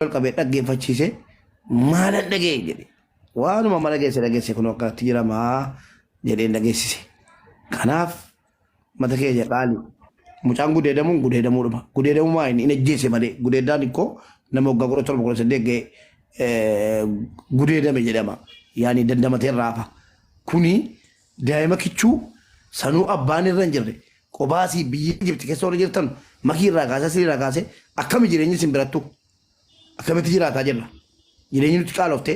ol qabee dhaggeeffachiise maalan dhagee jedhe waanuma mala geesse dhageesse kun akkanatti jiramaa jedheen dhageessise kanaaf mata keenya qaali mucaan gudeedamuun gudeedamuu dhufa gudeedamuu maa inni hin ajjeese malee gudeedaan ikkoo nama waggaa kudha torba kudha saddeet ga'e eh, gudeedame jedhama yaani dandamateen raafa kuni Daima kichuu sanuu abbaan irra hin jirre qobaa sii biyya Egypt kessa warri jirtan makii irraa kaasee asli irraa kaasee akkami jireenyi isin birattu akkamitti jiraataa jirra jireenyi nutti qaalofte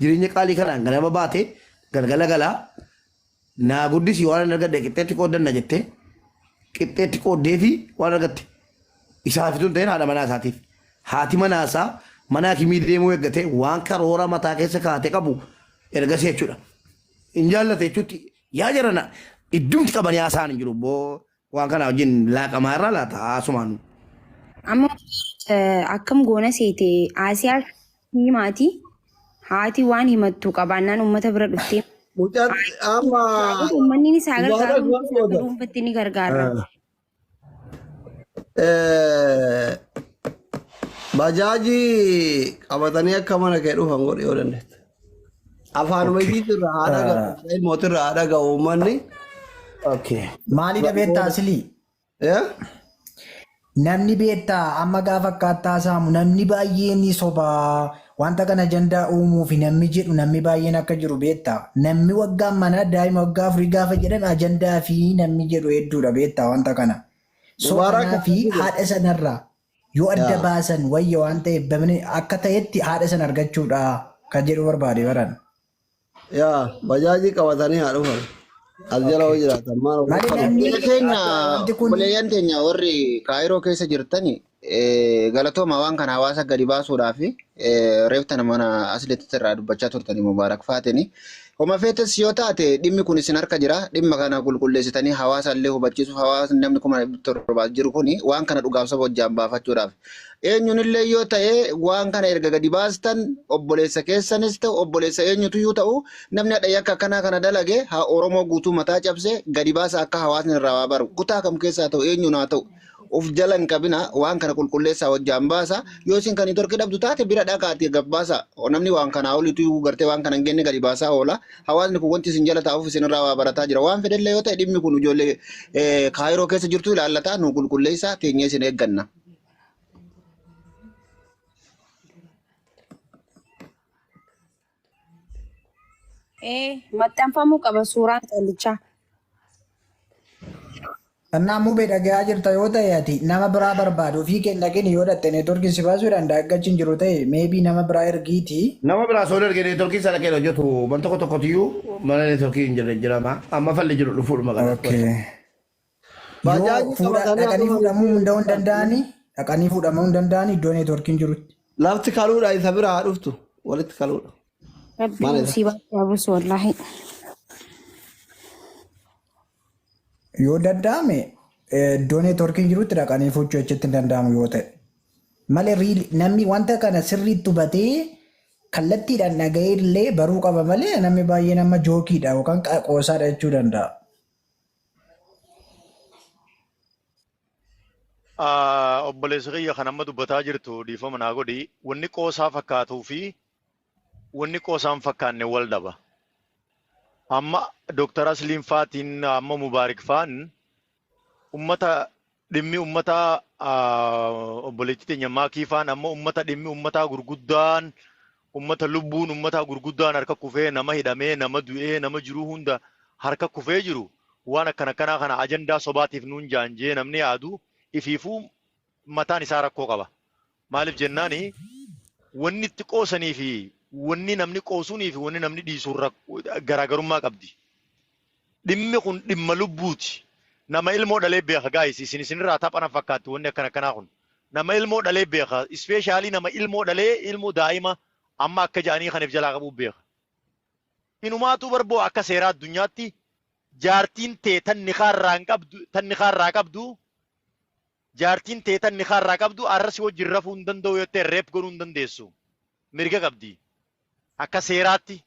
jireenya qaalii kanaan ganama baate galgala galaa naa guddisi waan hin argadhe qixxeetti qooddanna jette qixxeetti qooddee fi waan argatte isaaf tun ta'een haadha manaa isaatiif haati manaa isaa manaa kimii deemuu eeggate waan karoora mataa keessa kaate qabu ergasii jechuudha. hin jaallata jechuutti yaa jarana iddumti qabanii haasaan hin jiru boo waan kana wajjin laaqamaa irraa laata haasumaan Amma eh, akkam goona seete Asiyaa himaati haati waan himattu qabaannaan uummata bira dhuftee Mucaan amma uummanni isaa gargaaru Waaqa uummanni isaa akka booda. dhuunfatti ni gargaara. Eh, Bajaajii qabatanii akka mana kee dhufan godhi yoo dandeette. Afaanuma Okay. ishiitti irraa haa dhaga'u, Ah, Israa'el mootii irraa haa dhaga'u uummanni. Okay. Maali da beektaa asilii? Eh? Namni beektaa amma gaafa akkaattaa saamu namni baay'een ni sobaa Wanta kana ajandaa uumuufi nammi jedhu nammi baay'een akka jiru beektaa? Nammi waggaan manaa daa'ima waggaa afurii gaafa jedhan ajandaafi nammi jedhu hedduudha beektaa wanta kana. So Mubaarak kanaafi akkana jedhe. haadha sanarraa yoo adda Yaa. baasan wayya waan ta'eef bamni akka ta'etti haadha sana argachuudha kan jedhuu barbaade baran. Yaa bajaajii qabatanii haa dhufan. As jala hoo Okay. jiraatan maal of Mali dhufan. namni Obboleeyyan keenya akka wanti kun obboleeyyan keenya warri Kaayiroo keessa jirtani eh, galatooma waan kana hawaasa gadi baasuudhaa fi eh, reeftan mana asilitti irraa dubbachaa turtani Mubaarak Faatini. Homa feetes yoo taate dhimmi kun isin harka jira. Dhimma kana qulqulleessitanii hawaasa illee hubachiisuuf hawaasni namni kuma torbaas jiru kuni waan kana dhugaaf saba hojjaan baafachuudhaaf Eenyunillee yoo ta'e waan kana erga gadi baastan obboleessa keessanis ta'u obboleessa eenyutuyyuu ta'u namni hadha yakka akkanaa kana dalage haa Oromoo guutuu mataa cabse gadi baasa akka hawaasni irraa waa baru kutaa kam keessaa ta'u eenyuun haa ta'u of jala hin qabina waan kana qulqulleessaa hojjaan baasa yoo isin kan hin torki dhabdu taate bira dhaqaati gabbaasa namni waan kanaa olituyyuu gartee waan kana hin genne gadi baasaa oola hawaasni kun wanti isin jala taa'uuf isinirraa waa barataa jira. Waan fedhellee yoo ta'e dhimmi kun ijoollee eh, kaayiroo keessa jirtu ilaallataa nu qulqulleessaa teenyee isin eegganna. Ee, maxxanfamuu qaba suuraan callichaa. Kannaa mube dhagayaa jirta yoo ta'e ati nama biraa barbaadi ofii kee hin dhaqini yoo dhaqxe networkin si baasuu danda'a akka achi hin jiru ta'e maybe nama biraa ergiiti. Nama biraa soon erge networkin isaa dhaqee hin hojjetu man tokko tokkotiyuu mana networkin hin jirre jirama amma falli jiru dhufuudhuma qada ok qosa. Yoo Baajaajii fuudha qabatanii dhaqanii akkuma fuudhamuu miskiina hunda'uu hin fakkaatu. danda'ani dhaqanii fuudhamuu hin danda'ani iddoo networkin jirutti. Lafti kaluudha isa bira haa dhuftu walitti kaluudha. Rabbiin Maal isa? musiibaa haa buusu wallaahi. Yoo danda'ame iddoo neetworkiin jirutti dhaqanii fuuchuu achitti hin danda'amu yoo ta'e. Malee riili namni wanta kana sirriitti hubatee kallattiidhaan dhaga'ee illee baruu qaba malee namni baay'een amma jookiidha yookaan qa- qoosaadha jechuu danda'a. Ah, obboleessa kiyya kan amma dubbataa jirtu dhiifama naa godhi wanni qoosaa fakkaatuu fi wanni qoosaa hin fakkaanne wal dhaba. Amma Dooktar Asliin faatiin amma Mubaarik faan ummata dhimmi ummataa obboleettii teenya maakii faan amma ummata dhimmi ummataa gurguddaan ummata lubbuun ummataa gurguddaan harka kufee nama hidhamee nama du'ee nama jiruu hunda harka kufee jiru waan akkana akkanaa kana ajandaa sobaatiif nuun jaanjee namni yaadu ifiifuu mataan isaa rakkoo qaba. Maaliif jennaani wanni itti qoosanii fi wanni namni qoosuunii fi wanni namni dhiisu irra garaagarummaa qabdi. Dhimmi kun dhimma lubbuuti. Nama ilmoo dhalee beeka gaayis isin isinirraa tapha na fakkaatti wanni akkana akkanaa kun. Nama ilmoo dhalee beeka ispeeshaalii nama ilmoo dhalee ilmoo daa'ima amma akka ja'anii kaniif jalaa qabuu beeka. Inumaatuu barboo akka seeraa addunyaatti jaartiin tee tan nikaarraa hin qabdu tan nikaarraa qabdu Jaartiin tee tan nikaa irraa qabdu arra si wajjin rafuu hin danda'u yoo jettee reep godhuu hin dandeessu. Mirga qabdi. Akka seeraatti.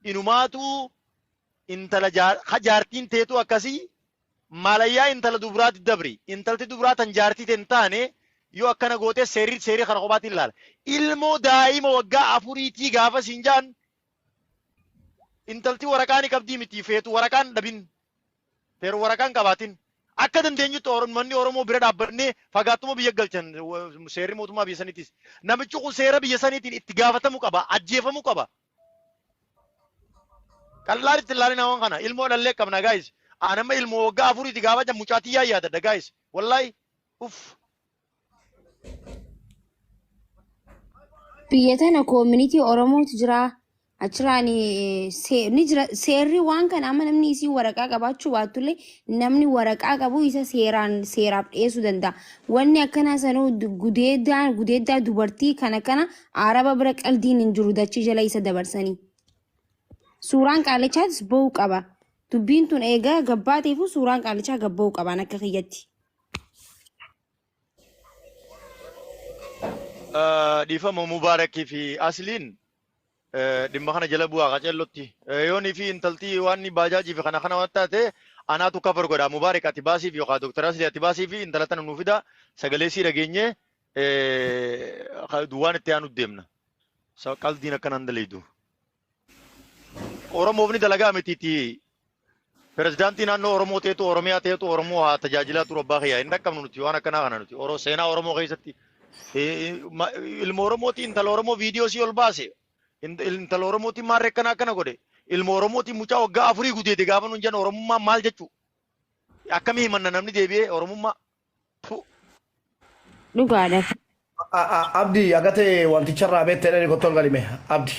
Inumaatu intala jaar, ka jaartiin teetu akkasii maalayyaa intala dubraatti dabri. Intalti dubraa tan jaartii tee hin taane yoo akkana gootee seerri seerri kana kophaatiin ilaala. Ilmoo daa'ima waggaa afuriitii gaafa siin jaan intalti waraqaa ni qabdii miti feetu waraqaan dhabin Seera waraqaa hin qabaatin. Akka dandeenyutti Oro- manni Oromoo bira dhaabbannee fagaattuma biyya galchan wa- seerri mootummaa biyya saniitis. Namichi kun seera biyya saniitiin itti gaafatamuu qaba, ajjeefamuu qaba. Qallaan itti ilaalina waan kana. Ilmoo dhallee qabna gaayis. Aan amma ilmoo waggaa afuriiti gaafa jedhamu mucaatii yaa yaadadha gaayis. Wallaahi uff Biyya tana koomunitii Oromootu jira. Achirraan eh, see- ni jira seerri waan kana amma namni isii waraqaa qabaachuu baatullee namni waraqaa qabu isa seeraan seeraaf dhiyeessuu danda'a. Wanni akkanaa sanuu du- gudeedaa gudeedaa dubartii kana kana araba bira qaldiin hin jiru dachii jala isa dabarsanii. Suuraan qaalichaatis ba'uu qaba. Dubbiin tun eegaa gabbaateefu suuraan qaalichaa gabba'uu qabaan akka kiyyatti. Dhiifama Mubaarakii fi Asliin dhimma kana jala bu'aa qacellotti. Yoonii fi intaltii waan inni baajaajii fi kana kana waan taate anaatu kafar godha. Mubaarak ati baasii fi yookaan Dooktar Aslii ati baasii fi intala tana nuu fida sagalee sii dhageenye waan itti aanu deemna. Qaldiin akkanaan daleeydu. Oromoof ni dalagaa mitiiti. Pirezidaantii naannoo Oromoo ta'etu Oromiyaa ta'etu Oromoo haa tajaajilaa turu abbaa kiyyaa hin dhaqqabnu nuti waan akkanaa kana nuti Oro seenaa Oromoo keessatti eh, ma- ilma Oromootiin intala Oromoo viidiyoo sii ol baase int- intala Oromootiin maarree akkana akkana godhe ilma Oromootiin mucaa waggaa afurii gudeede gaafa nuun jennu Oromummaan maal jechuu akkamii himanna namni deebi'ee Oromummaa Fu- Dhugaadha. A- a- Abdi agate wanticha irraa beekte dhani kottoon galime Abdi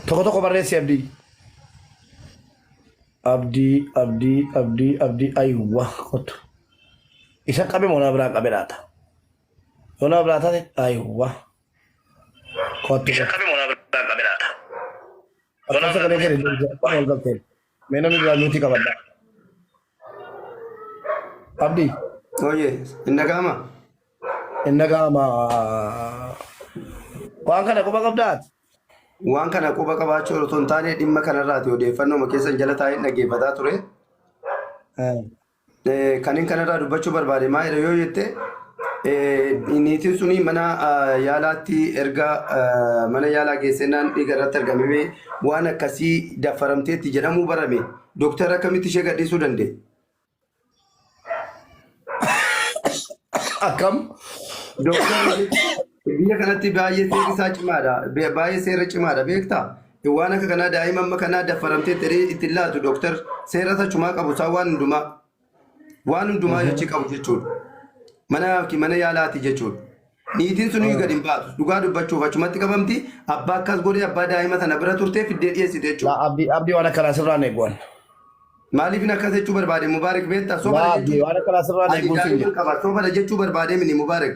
tokko tokko barreessi Abdi Abdi Abdi Abdi Abdi ayuwa kottu isa qabe moo nama biraa qabe laata yoo nama biraa taate ayuwa kottu isa qabe moo nama biraa qabe laata yoo nama biraa qabe wal galteen Mee namni biraa miitii qabadha. Abdi, Oye, hin dhaga'ama? hin dhaga'ama. Waan kana quba qabdaa ati? Waan kana quba qabaachuu otoo hin taane dhimma kanarraati odeeffannoo keessan jala taa'een dhaggeeffataa ture. Eh, Eh, Kanin kanarraa dubbachuu barbaade maalidha yoo jette eh, niitiin suni mana ah, yaalaatti erga ah, mana yaalaa geessennaan dhiiga irratti argamee waan akkasii daffaramteetti jedhamuu barame dooktar akkamitti ishee gadhiisuu danda'e? Akkam dooktarri Biyya kanatti baay'ee seerri isaa cimaadha. Be- Baay'ee seera cimaadha beektaa? Waan akka kanaa daa'ima amma kanaa daffaramtee ta'ee ittiin laatu dooktar seera isa cimaa qabu isaa waan hundumaa waan hundumaa Mhm. yochii qabu jechuudha. Mana yookiin mana yaalaati jechuudha. Niitiin sun iyyuu gad hin baatu. Dhugaa dubbachuuf achumatti qabamti. Abbaa akkas godhee abbaa daa'ima sana bira turtee fiddee dhiyeessite Laa jechuudha. abdii abdii waan akkanaa sirraa neeguwan. Maaliif hin akkas jechuu barbaade Mubaarak beektaa? Sobada Laa abdii jechuun waan akkanaa sirraa ani neeguun siin daa'ima jedha. qaba. Sobada jechuu barbaade mini Mubaarak.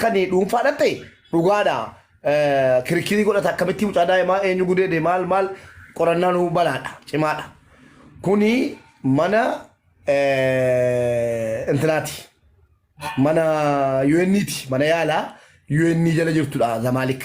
kan dhuunfaadhaan ta'e dhugaadha. Kirikkirii godhata akkamitti mucaa daa'imaa eenyu gudeede maal maal qorannaan balaadha cimaadha. Kuni mana intinaati. Mana UN'ti mana yaalaa UN jala jirtudha Zamaalik.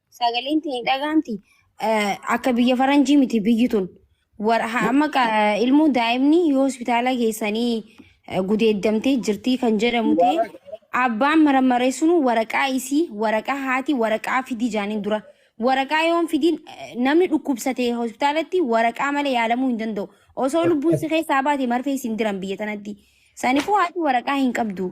Sagaleen tee hin dhagahamti. Akka biyya faranjii miti biyyi tun. War- ha- Amma ka- ilmoo daa'imni yoo hospitaala geessanii eh, gudeeddamtee jirtii kan jedhamu ta'e abbaan marammaree sun waraqaa isii waraqaa haati waraqaa fidi jaaniin dura. Waraqaa yoon fidiin eh, namni dhukkubsate hospitaalatti waraqaa malee yaalamuu hin danda'u. Osoo lubbuun si keessaa baate marfee isin diran biyya tanatti. Sanifuu haati waraqaa hin qabdu.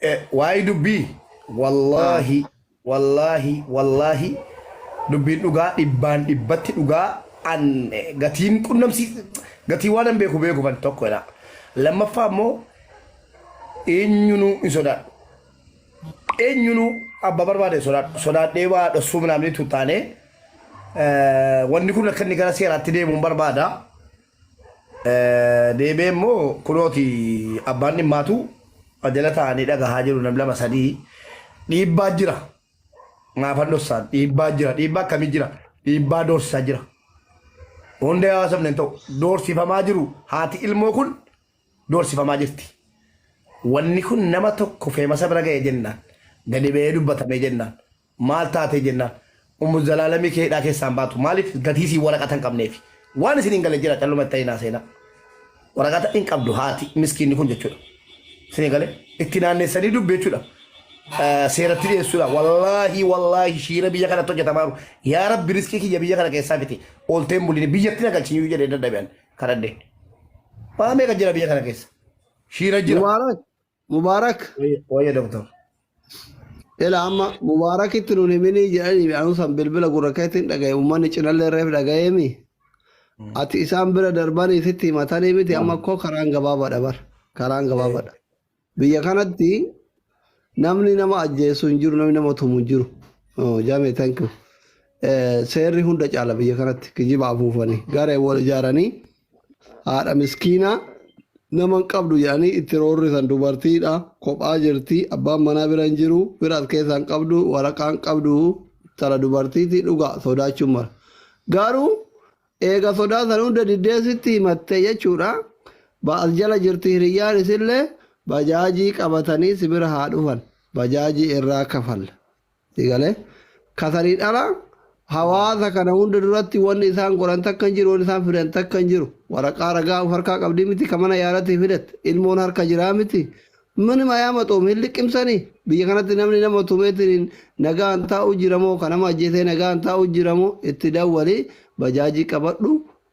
Eh, Waa'ee dubbii Ah, wallaahi wallaahi wallaahi dubbiin dhugaa dhibbaan dhibbatti dhugaa an eh, gatiin qunnamsii gatii waan an beeku beeku ban tokko jedha. Lammaffaa immoo eenyunuu hin sodaadhu. Eenyunuu abba barbaade hin sodaadhu. Sodaadhee waa dhossuu minaamni tuttaanee eh, wanni kun akka inni gara seeraatti deemuun barbaada. Deebi'ee immoo kunooti abbaan dhimmaatu jala taa'anii dhagahaa jiru nam lama sadii dhiibbaa jira maafan dhossaan dhiibbaa jira dhiibbaa akkamii jira dhiibbaa doorsisaa jira hunda yaa haasofne hin ta'u doorsifamaa jiru haati ilmoo kun doorsifamaa jirti wanni kun nama tokko feemasa bira ga'e jennaan gadi ba'ee dubbatamee jennaan Maal taate jennaan Ummu Zalaalamii kee hidhaa keessaa hin baatu maaliif gatii isii waraqata hin qabneefi. Waan isin hin galle jira calluma itti hin haaseenaa. Waraqata hin qabdu haati miskiinni kun jechuudha. Isin gale itti naannessanii dubbi jechuudha. Seeratti dhiyeessuudha. Wallaahi wallaahi shiira biyya kanatti hojjetamaa jiru. Yaa rabbi riskii kiyya biyya kana keessaa fiti. Oolteen buliin biyyatti na galchinyuu jedhee dadhabi'an kadhadheen. Waa meeqa jira biyya kana keessa? Shiira jira. Mubaarak Mubaarak Wayya doktor. ila amma Mubaarakitti nun himinii jedhanii anuu san bilbila gurra keetiin dhagaye uummanni cinallee reef dhagayeemi. Ati isaan bira darbanii sitti himatanii miti amma koo karaan gabaabadha bar karaan gabaabadha. Biyya kanatti namni nama ajjeesu hin jiru namni nama tumu hin jiru. Oh, Jaame thank you. Eh, Seerri hunda caala biyya kanatti kijiba afuufanii garee wal ijaaranii haadha miskiinaa nama hin qabdu jedhanii itti roorrisan dubartiidha kophaa jirti abbaan manaa bira hin jiru firaas keessaa hin qabdu waraqaa hin qabdu tara dubartiiti dhugaa sodaachuun mala garuu eega sodaa san hunda diddee sitti himatte jechuudha ba'as jala jirti hiriyyaan isillee bajaajii qabatanii si bira haa dhufan bajaajii irraa kafalla Sigalee katarii dhala hawaasa kana hunda duratti wanni isaan godhan takka hin jiru, wanni isaan fidan takka hin jiru. Waraqaa ragaa of harkaa qabdii miti ka mana yaalatii fidatte. Ilmoon harka jiraa miti. Minima yaamaxoom hin liqimsanii. Biyya kanatti namni nama tumeetiin nagaan taa'u jira moo ka nama ajjeesee nagaan taa'u jira moo itti dawwalii bajaajii qabadhu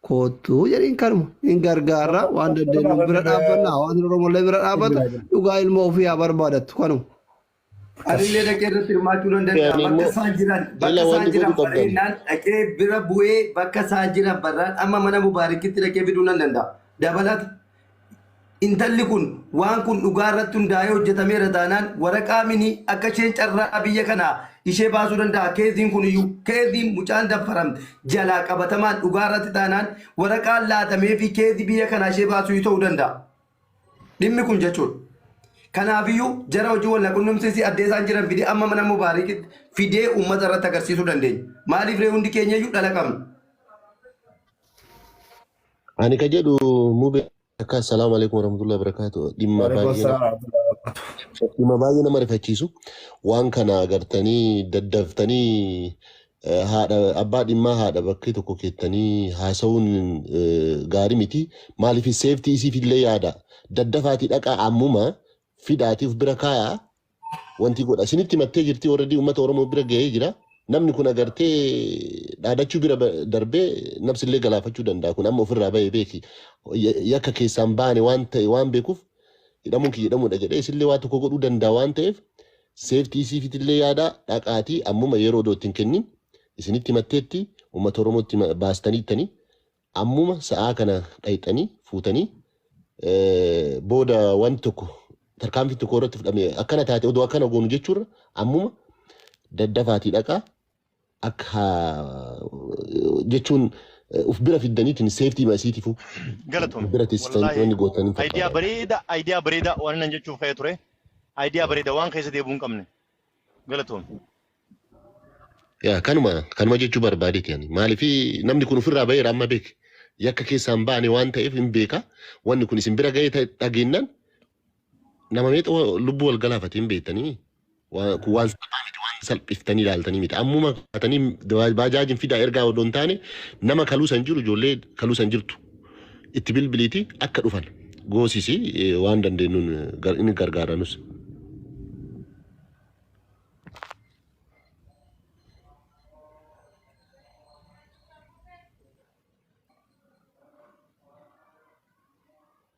koottu jedhiin kanuma. Hin gargaarra waan dandeenyu bira dhaabbanna hawaasni Oromollee bira dhaabbata dhugaa ilmoo ofii haa barbaadattu kanuma. Anillee dhaqee irratti hirmaachuu nan danda'a. Ani Bakka immoo isaan jiran, bakka ila isaan wanni jiran godhu qabdan. bareennaan dhaqee bira bu'ee bakka isaan jiran barraan amma mana Mubaarikitti dhaqee fiduu nan danda'a. Dabalata. Intalli kun waan kun dhugaa irratti hundaa'ee hojjetameera taanaan waraqaa mini akka isheen carraa biyya kanaa ishee baasuu danda'a. Keeziin kun iyyuu keeziin mucaan daffaramte jalaa qabatamaan dhugaa irratti taanaan waraqaan laatamee fi keezii biyya kanaa ishee baasuu ta'uu danda'a. Dhimmi kun jechuudha. Kanaafiyyuu jara hojii walnaqunnamsiisii addee isaan jiran fidee amma mana Mubaarikitti fidee uummata irratti agarsiisuu dandeenya. Maaliif ree hundi keenya iyyuu dhala qabna. Ani ka jedhu mube akka assalaamu alaikum warahmatullahi wabarakatuh dhimma Waalaikum baay'ee nama salaam warahmatullahi wabarakatuh. dhimma baay'ee nama rifachiisu waan kana agartanii daddaftanii eh, haadha abbaa dhimmaa haadha bakkee tokko keettanii haasa'uun eh, gaarii miti maaliif seeftii isiif illee yaada daddafaatii dhaqaa ammuma fidaatii of bira kaayaa wanti godha isinitti mattee jirti warradii uummata oromoo bira ga'ee jira namni kun agartee dhaadachuu bira ba- darbee nabsillee galaafachuu danda'a kun amma ofirraa ba'ee beeki Ya- yakka keessaan baane waan ta'e waan beekuuf hidhamuun kiyya hidhamuudha jedhee isillee waa tokko godhuu danda'a waan ta'eef Safety isiifitillee yaadaa dhaqaatii ammuma yeroo odoo itti hin kennin isinitti himatteetti ummata Oromootti baastaniittanii ammuma sa'aa kana dhayxanii fuutanii booda wanti tokko tarkaanfiin tokko irratti fudhame akkana taate odoo akkana goonu jechuurra ammuma daddafaatii dhaqaa akka jechuun uf bira fiddaniitiin seeftii maasiitifu Galatoom. bira teessitan Wallaahi wanni gootan hin idea fakkaatu. bareeda idea bareeda waan nan jechuuf ka'ee ture. Idea bareeda waan keessa deebuu hin qabne. Galatoom. Yaa kanuma kanuma jechuu barbaadeeti yani maaliif namni kun ofirraa baheera amma beek yakka keessaan baane waan ta'eef hin beeka wanni kun isin bira ga'ee ta'e dhageennan Nama meeqa wa- lubbuu wal galaafatee hin beektanii? Wa- Kun waan salphaa miti, waan salphiftanii ilaaltanii miti. Ammuma kaatanii da- baajaajin fidaa ergaa odoo hin taane nama kaluu san jiru ijoollee kaluu san jirtu itti bilbiliiti akka dhufan goosisi eh, waan dandeenyuun eh, gar- inni gargaaranus.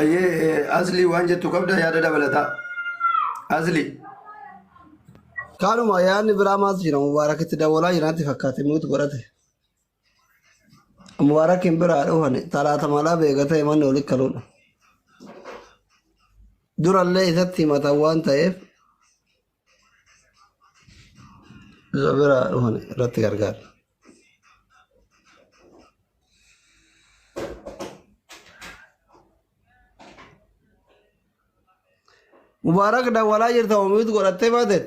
Ayyee asli waan jettu qabda yaada dabalataa. Asli. Kaanuma yaadni biraa maaltu jira mubaarakitti dawwalaa jiraatti fakkaate muutu godhate. Mubaarakiin biraa dhufan talaata malaa beekatee manni oli kaluudha. Durallee isatti himatan waan ta'eef Isa biraa dhufan irratti gargaara. Mubaarak dawwalaa jirta omiitu godhattee baateet.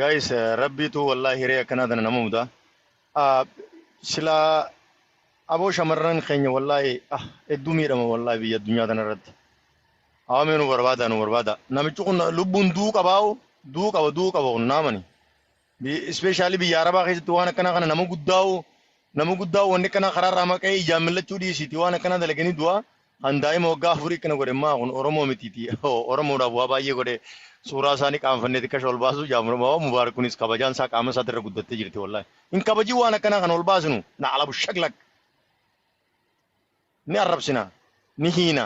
Guys rabbiitu wallahi hiree akkanaa tana nama mudaa. Ah, Silaa aboo shamarran keenya wallahi ah hedduu miidhama wallahi biyya addunyaa tana irratti. Awamee nu barbaada nu barbaada. Namichi kun lubbuun du'uu qabaa'u du'uu qaba du'uu qaba kun naamani. Ispeeshaalii biyya Arabaa keessatti waan akkanaa kana nama guddaa'u nama guddaa'u wanni akkanaa karaa irraa maqee ijaan millachuu dhiisiiti waan akkanaa dalaganii du'aa An daa'ima waggaa afurii akkana godhe maa kun Oromoo mitiiti Oromoodhaaf waa baay'ee godhe suuraa isaa ni qaanfannee xiqqasha ol baasuu jaamurama mubaarak kunis kabajaan isaa qaama isaatti irra guddattee jirti wallahi hin kabajii waan akkanaa kan ol baasinu na alabu shaglak ni arrabsina ni hiina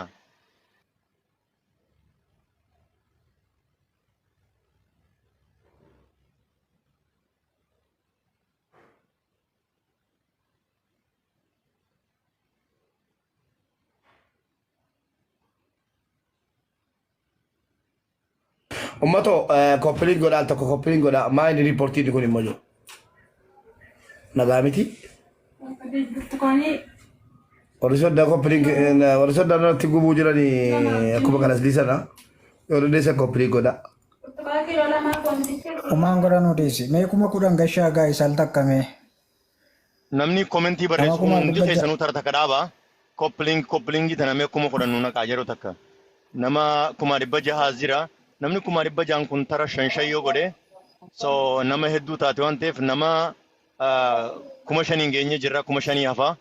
Ummato koppiliin godhaa tokko koppiliin godhaa maa inni riipportiin kun immoo jiru. Nagaa miti. Warri soddaa koppiliin warri soddaa irratti gubuu jiranii akkuma kanas dhiisana. Yoo dandeessan koppiliin godhaa. Umaan godhan odeessi. Mee kuma kudhan gashaa gaa'is al takka mee. Namni komentii Nama barreessu kun kuma hundi dhibba ja'a. keessanuu tara takka dhaaba. Koppiling koppilingii tana mee kuma kudhan nu naqaa yeroo takka. Nama kuma dhibba jaha as jira. Namni kuma dhibba jahan kun tara shan shan yoo godhe so nama hedduu taate waan ta'eef nama ah, kuma shan hin geenye jirra kuma shanii hafa.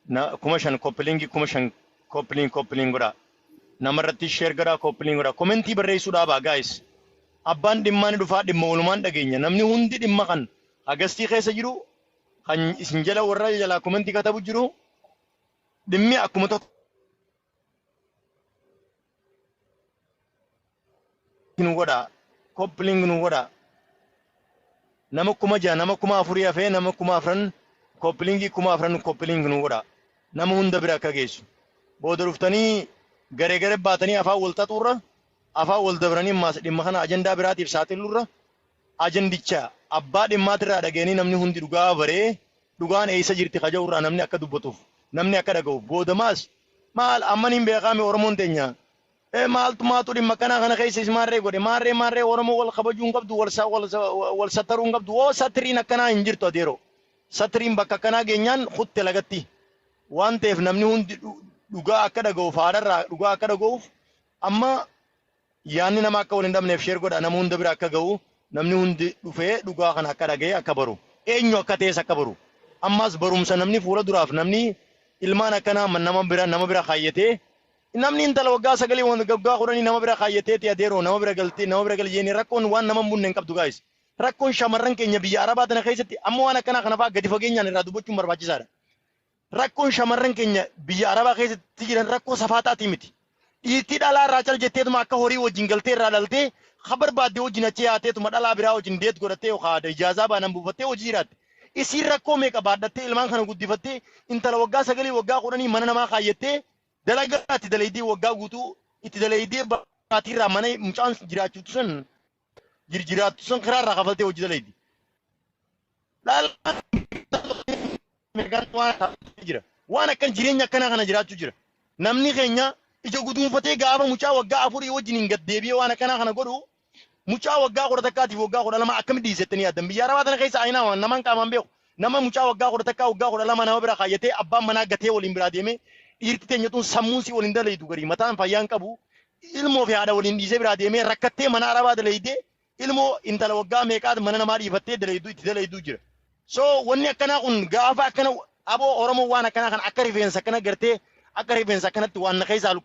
Na, kuma shan koppilingii kuma shan koppiling koppiling godha. Nama irratti sheer godhaa koppiling godha. Komentii barreessuu dhaabaa guys. Abbaan dhimmaa ni dhufaa dhimma walumaan dhageenya. Namni hundi dhimma kan Agastii keessa jiru kan isin jala warra jalaa komentii katabu jiru dhimmi akkuma tokko nu godha koppiling nu godha nama kuma jaha nama kuma afurii hafee nama kuma afran koppilingii kuma afran koppiling nu godha nama hunda bira akka geessu booda dhuftanii garee garee baatanii afaan wal xaxuurra afaan wal dabranii maas dhimma kana ajandaa biraatiif saaxiluurra Ajandicha abbaa dhimmaatirraa dhagayanii namni hundi dhugaa abaree dhugaan eessa jirti ka ja'urraa namni akka dubbatuuf, namni akka dhagahuuf, boodamaas maal amma niin beekaami Oromoon teenya ee maaltu maatu dhimma akkanaa kana keessa is maarree godhe maarree maarree Oromoon wal kabajuu hin qabdu wal sa wal sa wal sattaruu hin qabdu woo satriin akkanaa hin jirtu adeeroo satriin bakka akkanaa geenyaan kutte lagatti waan ta'eef namni hundi dhugaa akka dhagahuuf haadharraa dhugaa akka dhagahuuf amma Yaanni nama akka wal hin dhabneef share godha nama hunda bira akka ga'u namni hundi dhufee dhugaa kana akka dhaga'e akka baru eenyu akka ta'es akka baru ammaas barumsa namni fuula duraaf namni ilmaan akkanaa nama bira nama bira kaayyatee namni intala waggaa sagalii waggaa kudhanii nama bira kaayyateeti adeeroo nama bira galtee nama bira gali jeenee rakkoon waan nama hin bunne hin qabdu gaayis rakkoon shamarran keenya biyya arabaa tana keessatti amma waan akkanaa kanafaa gadi fageenyaan irraa dubbachuun barbaachisaadha. Rakkoon shamarran keenya biyya Arabaa keessatti jiran rakkoo safaataatii miti. Dhiirtii dhalaa irraa cal jetteetuma akka horii wajjin galtee irraa dhaltee ha barbaadde wajjin achi yaateetuma dhalaa biraa wajjin deet godhattee yookaa ijaazaa baanan buufattee hojii jiraatte. Isiin rakkoo meeqa baadhattee ilmaan kana guddifattee intala waggaa sagalii waggaa kudhanii mana namaa kaayyattee dalagaa itti dalaydee waggaa guutuu itti dalaydee baatiirraa mana mucaan jiraachuutu san jirjiraattu san karaa irraa kafaltee hojii dalayddi. jira. Waan akkan jireenya akkanaa kana jiraachuu jira. Namni keenya ija guduunfatee gaafa mucaa waggaa afurii wajjin hin gaddeebi'ee waan akkanaa kana godhu mucaa waggaa kudha takkaatiif waggaa kudha lama akkamitti dhiisettanii yaaddan biyya arabaa tana keessa ayinaa waan namaan qaamaan beeku Nama mucaa waggaa kudha takkaa waggaa kudha lama nama bira kaayyatee abbaan manaa gatee waliin biraa deemee dhiirti teenya tun sammuun si waliin dalaydu garii mataan fayyaan qabu ilmoo fi haadha waliin dhiisee biraa deemee rakkattee mana arabaa dalaydee ilmoo intala waggaa meeqaat mana namaa dhiifattee dalaydu itti dalaydu jira. So wanni akkanaa kun gaafa akkana aboo Oromoo waan akkanaa kana akka rifeensa akkana gartee akka rifeensa akkanatti waan na keessaa luqqisee